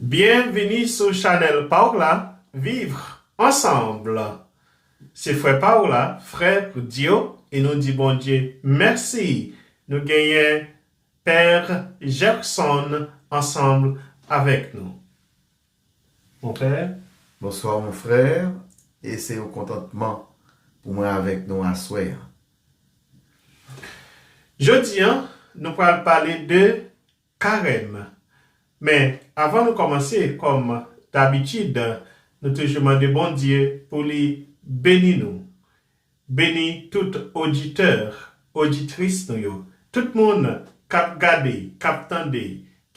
Byen vini sou chanel paw la vivre ensemble se frè paw la frè Dio e nou di Bondye mèsi nou genyen père Gerson ensemble avèk nou mon père. Bonsoir mon frère e se yon kontantman pou mwen avèk nou aswè an. Jodi an nou pral pale de Karèm. Men, avan nou kòmanse, kòm dabitid, nou toujou mande Bondye pou li beni nou, beni tout oditè, oditris nou yo, tout moun k ap gade, k ap tande,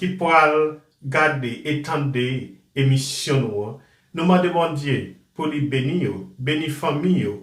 ki pral gade e tande emisyon nou an. Nou mande Bondye pou li beni yo, beni fanmi yo,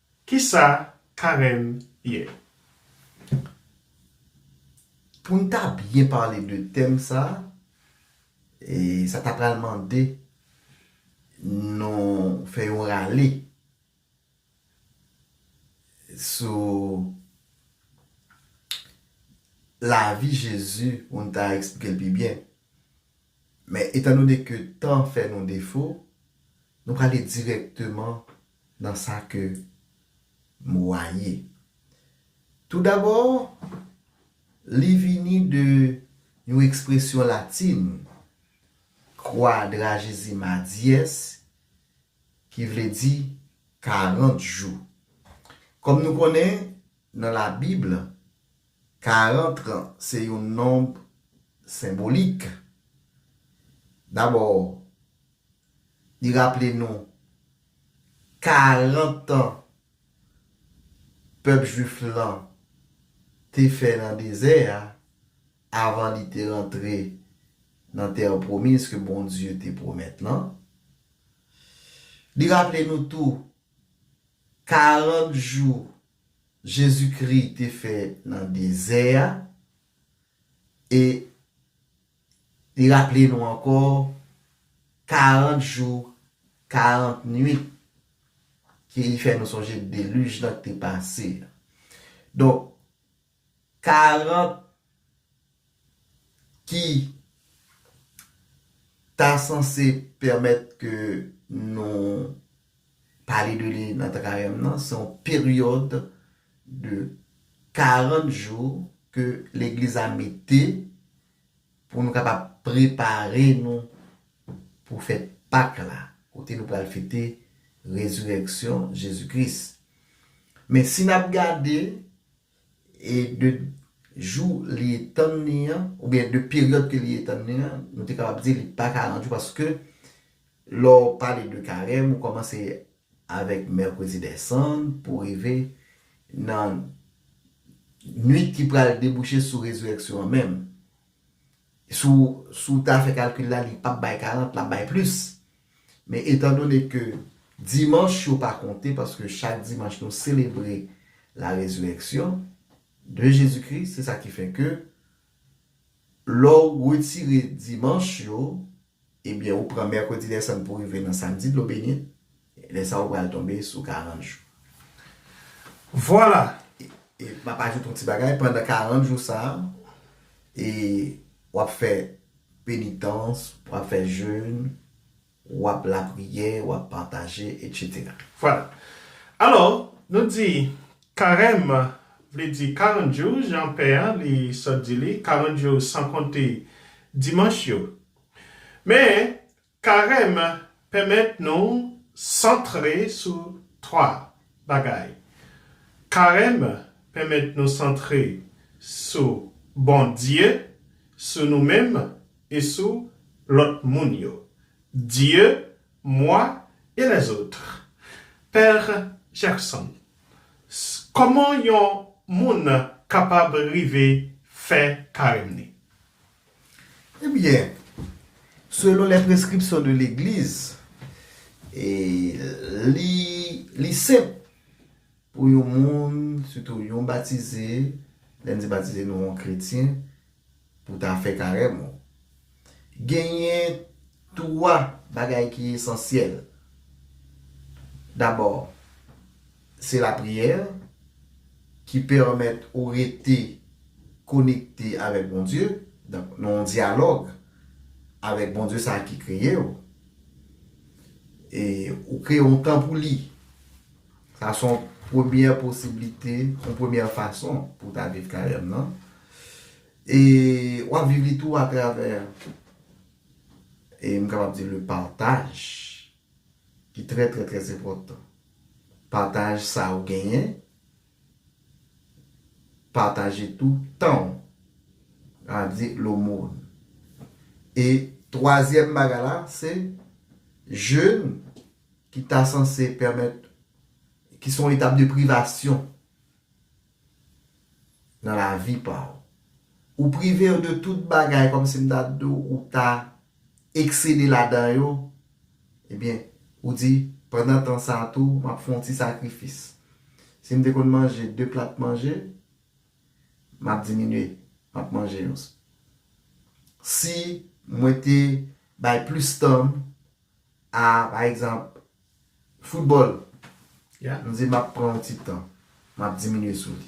Kisa Karen ye? Pou n ta byen pale de tèm sa, sa ta pral mande nou fè yon rale sou lavi Jezi pou n ta esplike l pi byen. Men etandone ke tan fè nou defo, nou prale dirèkteman. nan sa ke mo a ye. Toudabò, li vini de yon ekspresyon latin, quadragesima dies, ki vle di karant jou. Kòm nou konnen, nan Labib, karant lan se yon nonb senbolik. Dabò, Li raple nou 40 tan pèp jwif lan te fè nan dezè a avan li te rantre nan tè pwomiz ke Bondye te pwomèt lan. Li raple nou tou 40 jou Jezikri te fè nan dezè a e Li raple nou ankò, 40 jou, 40 nwit ke li fè nou sonje deluj lan ki te pase a. Donk, 40 ki ta sanse pèmèt ke nou pale de li nan Karèm nan, se yon peryòd, de 40 jou ke legliz la mete pou nou kapab prepare nou pou fèt Pak la, kote nou pral fete Rezirèksyon Jezi Kris. Men si n'ap gade e de jou li etann li an, oubyen de peryòd ke li etann li an, nou te kapab di li pa 40 jou paske lè w pale de karèm ou kòmanse avèk Mercredi des Cendres pou rive nan Nuit ki pral debouche sou Rezirèksyon an menm. Si w ta fè kalkil la, li pap bay 40, l ap bay plis. Men etandone ke Dimanch yo pa konte, paske chak Dimanch nou selebre la Rezirèksyon de Jezikri, se sa ki fè ke, Lè w retire dimanch yo, ebyen ou pran mèkredi desann pou rive nan samdi dlo benit, lè sa ou pral tonbe sou 40 jou. Vwala! E m ap ajoute yon ti bagay, pandan 40 jou sa, e w ap fè penitans, w ap fè jèn, Wap lapriyè, wap pataje, etc. Vwala. Alò, nou di, Karèm vle di 40 jou, jan pè an li sot di li, 40 jou san konte dimanch yo. Men, Karèm pèmèt nou santre sou 3 bagay. Karèm pèmèt nou santre sou Bondye, sou nou menm, e sou lòt moun yo, Dieu, moi et les autres. Père Jackson, Kòman yon moun kapab rive fè Karèm ni? Ebyen, selon les prescriptions de l'Eglise, li senp. Pou yon moun, sitou yon batize, lè n di batize nou yon kretyen, pou ta fè karèm ou. Genyen twa bagay ki esansyèl. Dabò, se lapriyè ki pèmèt ou rete konekte avèk Bondye, nan yon dyalòg avèk Bondye sa a ki kreye ou. E ou kreye yon tan pou li. Sa son premyè posiblite, yon premyè fason pou ta viv Karèm nan. E wap viv li tou atravè, e m kapab di le pataj ki trè trè trè enpòtan. Pataj sa ou genyen, pataje tou tan w. Sa vle di lomòn. E twazyèm bagay la se jèn. ki ta sanse pèmèt, ki son etap de privasyon nan lavi pa ou. Ou prive yo de tout bagay kòm si m ta di w ou ta eksede ladan yo, ebyen ou di pandan tan sa tou m ap fè yon ti sakrifis. Si m te konn manje 2 plat manje, m ap diminye, m ap manje yon. Si mwen te bay plis tan m A, pa egzanp, foutbòl. Nou di m ap pran yon ti tan. M ap diminye sou li.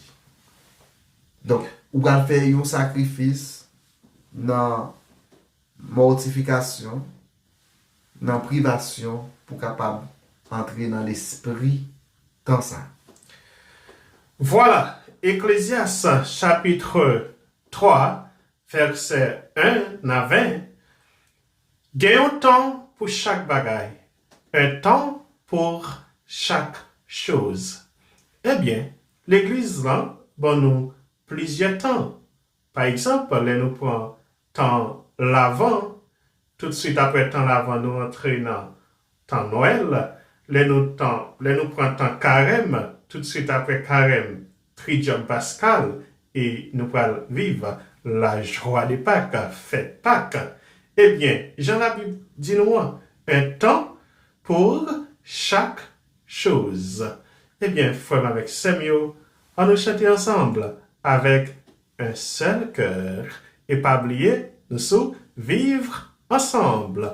Donk, ou pral fè yon sakrifis nan mòtifikasyon, nan privasyon pou kapab antre nan lespri tan sa. Vwala, Eklezyas chapitre 3 vèsè 1 nan 20, Gen yon tan pou chak bagay, un temps pour chaque chose. Ebyen, legliz lan ban nou plizyè tan. Pa egzanp, lè nou pran tan Lavan, toutsuit aprè tan Lavan nou antre nan Tan Noel, lè nou tan, lè nou pran tan karèm, tout swit aprè karèm, tridyòm paskal, e nou pral viv la jwa de Pak, fèt Pak. E byen, jan la Bib di nou an, un tan pour chak choz. E byen, frè m avèk sè m yo, an nou chante ansanbl avèk un sèl kèr, e pa bliye nou sou vivre ensemble.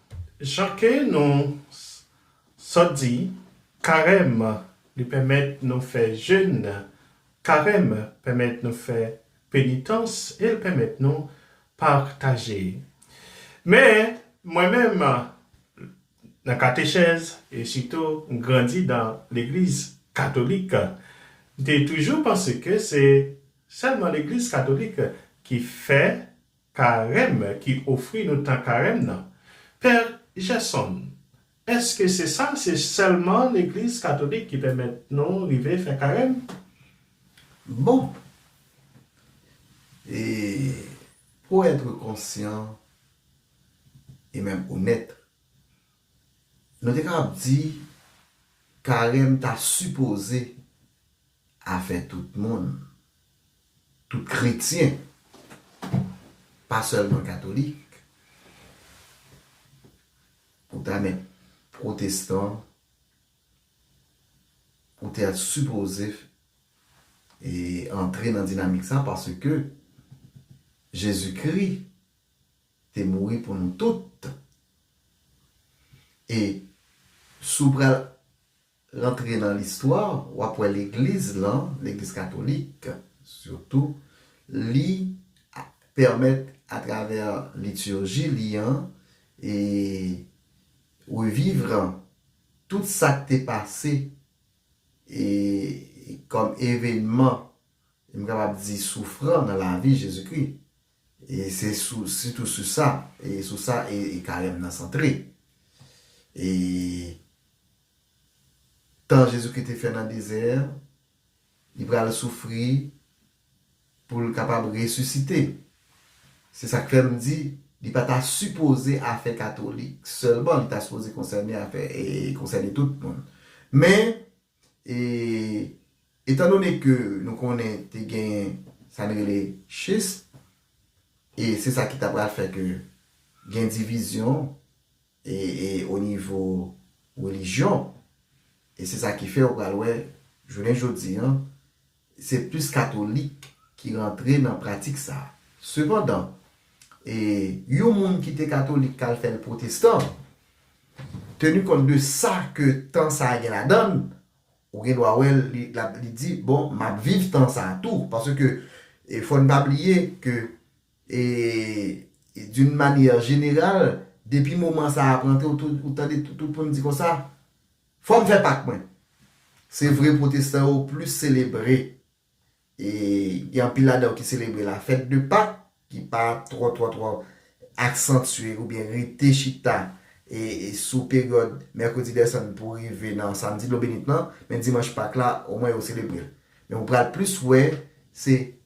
Jan ke nou sot di, Karèm li pèmèt nou fè jèn, Karèm pèmèt nou fè penitans e l pèmèt nou pataje. Men, mwen menm, nan katechèz e sitou m grandi nan legliz katolik, m te toujou panse ke se sèlman legliz katolik ki fè Karèm ki ofri nou tan karèm nan. Pè Gerson, Eske se sa, se sèlman legliz katolik ki pèmèt nou rive fè karèm? Bon! E pour être conscient et même honnête, nou te kapab di karèm ta sipoze Afè tout moun, tout kretyen, pa sèlman katolik. Ou ta mèt pwotestan, ou ta sipoze antre nan dinamik sa paske Jezikri te mouri pou nou tout. E si w pral Rantre nan listwa, w ap wè legliz lan, legliz katolik sitou, li pèmèt atravè litirji li an e revivre tout sa k te pase e kòm evenman m kapab di soufran nan lavi Jezikri. E se sitou sou sa, sou sa e Karèm nan santre. E tan Jezikri te fè nan dezè, li pral soufri pou l kapab resisite. Se sa k fè m di li pa ta sipoze afè katolik sèlman, li ta sipoze konsène afè e konsène tout moun. Men, e etandone ke nou konnen te genyen sa n rele schisme, e se sa ki ta pral fè ke gen divizyon, E e o nivo relijyon, e se sa ki fè ou pral wè jounen jodi an, se plis katolik ki rantre nan pratik sa. Sepandan, e yon moun ki te katolik k al fè l pwotestan, tenu kont de sa ke tan sa gen ladan l, ou gen dwa wè l li lap li di, bon, m ap viv tan sa tou. Paske, e fò n pa bliye ke E d'une manière générale, depi moman sa a ap rantre ou tou ou tande tout moun di konsa, Fò m fè Pak mwen! Se vre pwotestan yo plis selebre, e gen anpil ladan yo ki selebre la fête de Pak ki pa twò twò twò aksantye oubyen rete chita e sou peryòd Mercredi des Cendres pou rive nan Samedi de l'eau bénite nan, men Dimanch Pak la omwen yo selebre l. Men ou pral plis wè se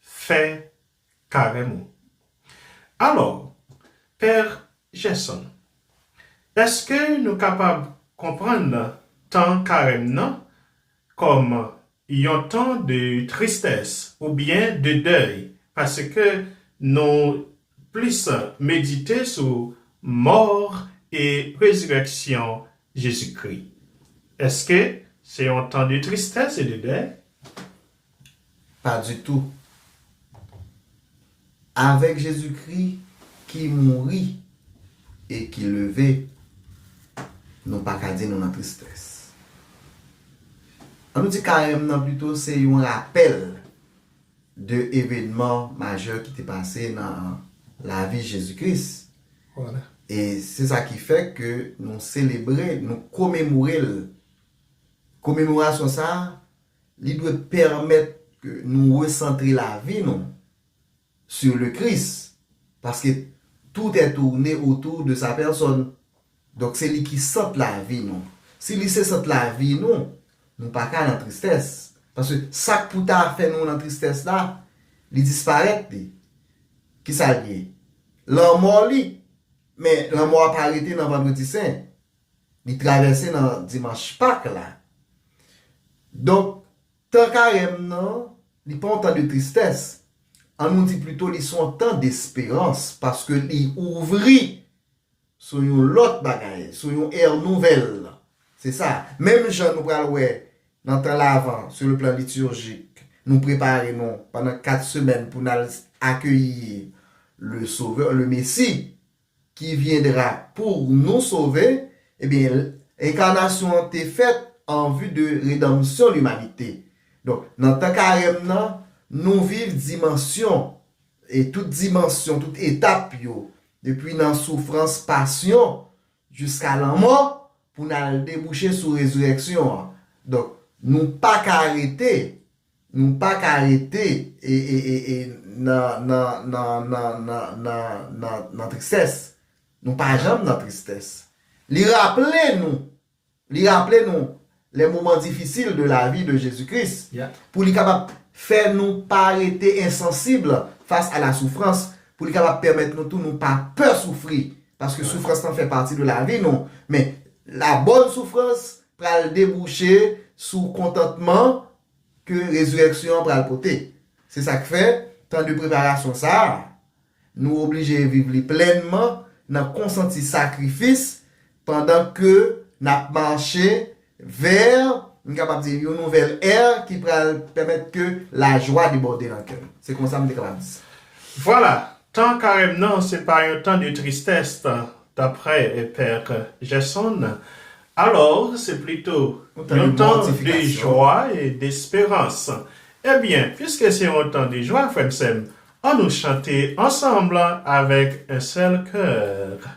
fè karèm ou. Alò, Pè Gerson, èske nou kapab konprann tan karèm nan kòm yon tan de tristès oubyen de dèy paske nou plis medite sou mò e rezirèksyon Jezikri? Èske se yon tan de tristès e de dèy? Pas du tout. Avèk Jezi Kri ki mouri e ki leve, nou pa ka di nou nan tristès. An nou di Karèm nan pito se yon rapèl de evenman majè ki te pase nan lavi Jezi Kris. E se sa ki fè ke nou selebre, nou komemore l. Komemorasyon sa a, Li dwe pèmèt ke nou resantre lavi nou sur le Christ, paske tout est tourne autour de sa personne. Donk se li ki sant lavi nou. Si li se sant lavi nou, nou pa ka nan tristès. Paske sa k pou ta fè nou nan tristès la, li disparèt li. Kisa l ye? Lanmò li. Men lanmò a pa rete nan Vendredi Sen. Li travèse nan dimanch Pak la. Donk, tan Karèm nan, li pa yon tan de tristès. An nou di plito li se yon tan desperans paske li ouvri sou yon lòt bagay, sou yon ère nouvelle. Se sa. Menm jan nou pral wè nan tan Lavan, sou le plan liturjik, nou prepare nou pandan 4 semèn pou n al akeyi le Sovè, le Mesi. Qui viendra pour nous sauver, ebyen enkanasyon an te fèt an vue de redanmsyon limanite. Donk nan tan karèm nan nou viv dimansyon e tout dimansyon, tout etap yo, depi nan soufrans, pasyon, jiska lanmò pou n al debouche sou rezirèksyon an. Donk nou pa ka rete Nou pa ka rete nan nan nan nan nan nan nan nan tristès. Nou pa janm nan tristès. Li raple nou, li raple nou les moments difficiles de la vie de Jésus Christ pou li kapab fè nou pa rete insensible face à la souffrance, pou li kapab pèmèt nou tou nou pa pè soufri paske soufrans lan fè pati de lavi nou men la bonne souffrance pral debouche sou kontantman ke Rezirèksyon an pral pote. Se sa k fè, tan de preparasyon sa a, nou oblije viv li plènman nan konsanti sakrifis pandan ke n ap mache vè, m kapab di, yon nouvèl è ki pral pèmèt ke lajwa debòde nan kè n. Se konsa m te kapab di sa. Vwala, tan Karèm nan se pa yon tan de tristès, daprè Pè Gerson, Alò, se plito yon tan de jwa e desperans. Ebyen, piske se yon tan de jwa, frè m, sè m, annou chante ansanm avèk en sèl kè.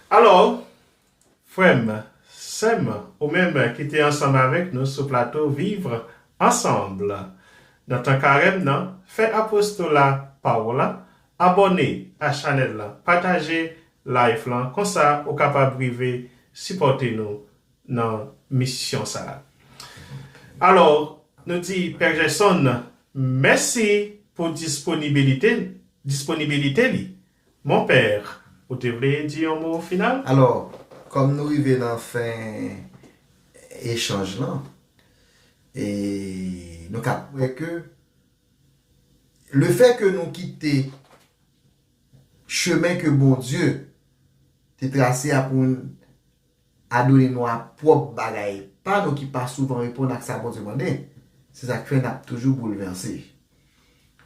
Alò, frè m, sè m, ou menm ki te ansanm avèk nou sou plato Vivre Ensemble nan tan Karèm nan, fè apostola pa w la, abòne a chanèl lan, pataje live lan, konsa ou kapab rive sipòte nou nan misyon sa. Alò, nou di Pè Gerson mèsi pou disponibilite disponibilite li Mon père, ou te vle di yon mo final? Alò, kòm nou rive nan fen echanj lan, e nou ka kwè ke lefè ke nou kite chemen ke Bondye te trase a pou n adone nou a pwòp bagay pa nou ki pa souvan reponn ak sa Bondye mande, se sa k fè n ap toujou boulvèse.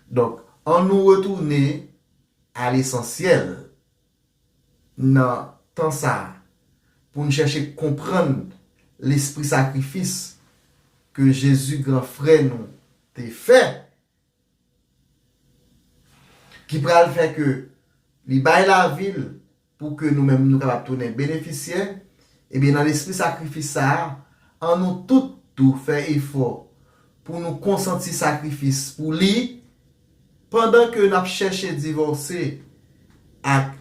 Donk, annou retounen. A lesansyèl, nan tan sa a, pou n chèche konprann lespri sakrifis ke Jezi gran frè nou te fè, ki pral fè ke li bay lavi l Pou ke nou menm nou kapab tounen benefisyè, ebyen nan lespri sakrifis sa a, an nou tout tou fè efò pou nou konsanti sakrifis pou li, pandan ke n ap chèche divòse ak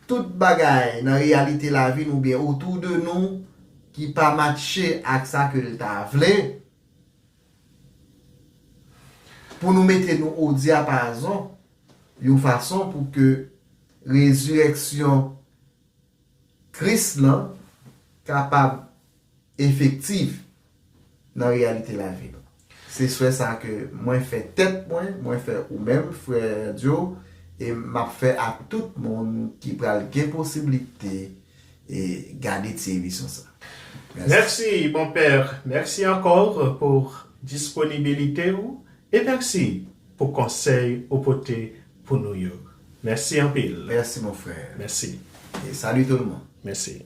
tout bagay nan reyalite lavi nou oubyen otou de nou ki pa matche ak sa ke l ta vle. Pou nou mete nou o dyapazon, yon fason pou ke rezirèksyon Kris lan kapab efektif nan reyalite lavi nou. Se swè sa a ke mwen fè tèt mwen, mwen fè ou menm, Frè Joe, e m ap fè a tout moun ki pral gen posiblite, E gade ti emisyon sa. Merci. Merci mon père merci encore pou disponibilite ou e merci pou konsèy ou pote pou nou yo merci anpil. Merci mon frère. Merci. E salut tout le monde. Merci.